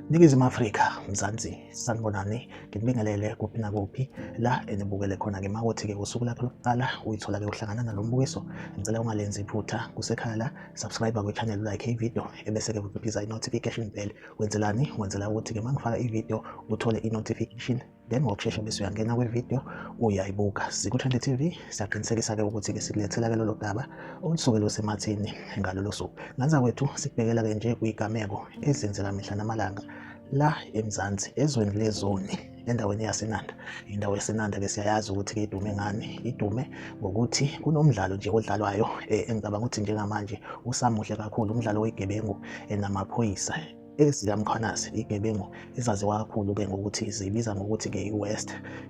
Ningizimu Afrika, Mzansi, sanibonani, nginibingelele kuphi nakuphi la enibukele khona-ke makothi-ke usuku lakho lokuqala uyithola-ke uhlangana nalo mbukiso, ngicela ungalenzi iphutha kusekhaya la, subscribe kwi-channel like ividiyo ebese-ke uciphiza i-notification bell. Wenzelani? Wenzela ukuthi-ke uma ngifaka ividiyo uthole i-notification then ngokushesha bese uyangena kwividiyo uyayibuka siku-20 tv siyaqinisekisa-ke ukuthi-ke sikulethela-ke lolo daba olusuke lusemathini ngalolo suku nganza kwethu sikubhekela-ke nje kuyigameko ezenzeka mihla namalanga la emzansi ezweni lezoni endaweni yasenanda indawo yasenanda-ke siyayazi ukuthi-ke idume ngani idume ngokuthi kunomdlalo nje odlalwayo um engicabanga ukuthi njengamanje usamuhle kakhulu umdlalo wegebengu enamaphoyisa ezikaMkhwanazi igebengu ezaziwa kakhulu ke ngokuthi zibiza ngokuthi ke i-West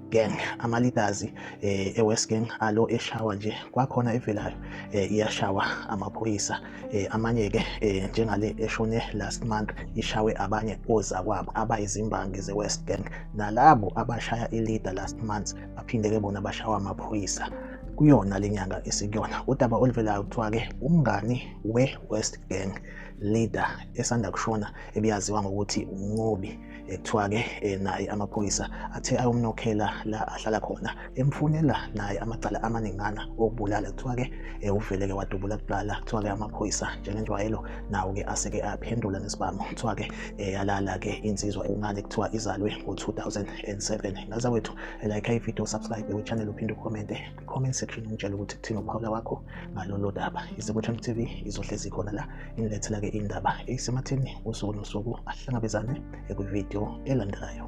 Gang amalitazi eh, e-West Gang alo eshawa nje kwakhona evelayo eh, iyashawa amaphoyisa eh, amanye ke njengale eshone last month ishawe abanye ozakwabo abayizimbangi ze-West Gang nalabo abashaya ilida last month baphinde ke bona bashawa amaphoyisa kuyona le nyanga esikuyona udaba oluvelayo kuthiwa-ke umngani we-west gang leader esanda kushona ebiyaziwa ngokuthi uNqobi ekuthiwa-ke eh, naye amaphoyisa athe ayomnokhela la ahlala khona emfunela naye amacala amaningana okubulala kuthiwa-ke eh, uveleke wadubula kuqala kuthiwa-ke amaphoyisa njengenjwayelo nawo-ke aseke aphendula nesibhamu kuthiwa-ke eh, yalala-ke insizwa encane kuthiwa izalwe ngo-2007 ngaza wethu like ividiyo subscribe we-channel uphinde ukhomente comment section ungitshela ukuthi kuthini ukuphawula kwakho ngalolu daba izikwethu mtv izohlezi khona la inilethela-ke indaba eyisematheni usuku nosuku ahlangabezane ekwividiyo elandelayo